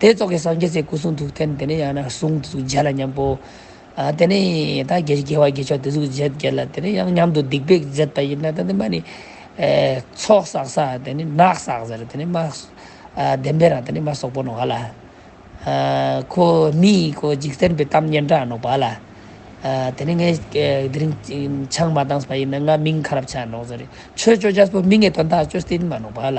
དེ་རྫོགས་ཀྱི་སངས་རྒྱས་ཚེ་སྐུ་གསུང་ཐུགས་རྟེན་དེ་ནས་ཡང་ན་གསུང་དེ་གཟུགས་བརྒྱད་ལ་མཉམ་པོ། དེ་ནས་ད་གེ་རྒྱལ་བ་དགེ་མཆོག་དེ་གཟུགས་བརྒྱད་བརྒྱད་ལ་དེ་ནས་ཡང་མཉམ་དུ་སྡིག་པས་བརྫད་པ་ཡིན་ན་ད་དེ་མ་ནི། ཚོགས་བསགས་ས་དེ་ནི་ནག་བསགས་ཟེར་དེ་ནི་མ། བདེན་པའི་རང་དེ་ནི་མ་སོགས་པོ་ནོ་བ་ལ། ཁོ་མི་ཡི་གོ་འཇིག་རྟེན་པའི་གཏམ་སྙན་གྲགས་ནོ་བ་ལ། དེ་ནི་ངས་དེ་རིང་ཆང་མ་བཏང་ས་པ་ཡིན་ན་ང་མིང་ཁ་རབ་ཆགས་ནོ་ཟེར་ཆོས་སྤྱོད་རྒྱ་སྤོ་མི་ངས་དོན་དག་སྤྱོད་སྟེ་ནི་མ་ནོ་བ་ལ།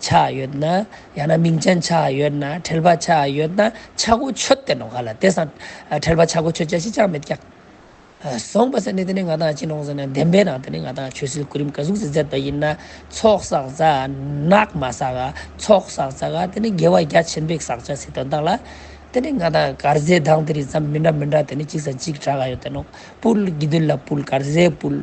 ཆགས་ཡོད་ན་ཡང་ན་མིང་ཅན་ཆགས་ཡོད་ན་ཁྲེལ་བ་ཆགས་ཡོད་ན་ཆག་སྒོ་ཆོད་བསྟེན་ནོ་ག་ལ་དེ་སང་ཁྲེལ་བ་ཆག་སྒོ་ཆོད་བྱ་ཞིག་ཅང་མེད་ཀྱང། བཟང་པ་ཟེར་ནས་དེ་ནས་ང་དང་ཅི་གནོང་ཟེར་ན་བདེན་པའི་ནང་དུ་ནི་ང་དང་ཆོས་སྲིད་སྐུ་རིམ་ག་གཟུགས་སུ་མཛད་པ་ཡིན་ན་ཚོགས་བསགས་བྱ་ནག་མ་བསགས་ཀ་ཚོགས་བསགས་བྱ་ཀ་དེ་ནི་དགེ་བ་རྒྱ་ཆེན་པོའི་བསགས་བྱ་ཟེར་དོན་དག་ལ། དེ་ནི་ང་དང་གར་ཟའི་གདངས་དེ་རིགས་ཙམ་མི་འདྲ་མི་འདྲ་དེ་ནི་གཅིག་བཟའ་གཅིག་གྲགས་ཡོད་དེ་ནོ་སྤུལ་དགེ་འདུན་ལ་སྤུལ་གར་ཟའི་སྤུལ།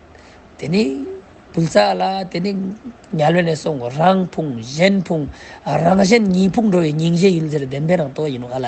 དེ་ནི་བུལ་ཙ་ལ་དེ་ནི་ཉལ་བས་ནས་སོང་རང་ཕུང་གཞན་ཕུང་རང་གཞན་གཉིས་ཕུང་འགྲོ་བའི་སྙིང་རྗེ་ཡུལ་འདིར་བདེན་པའི་རང་རྟོགས་ཡིན་ནོ་ཨ་ལ།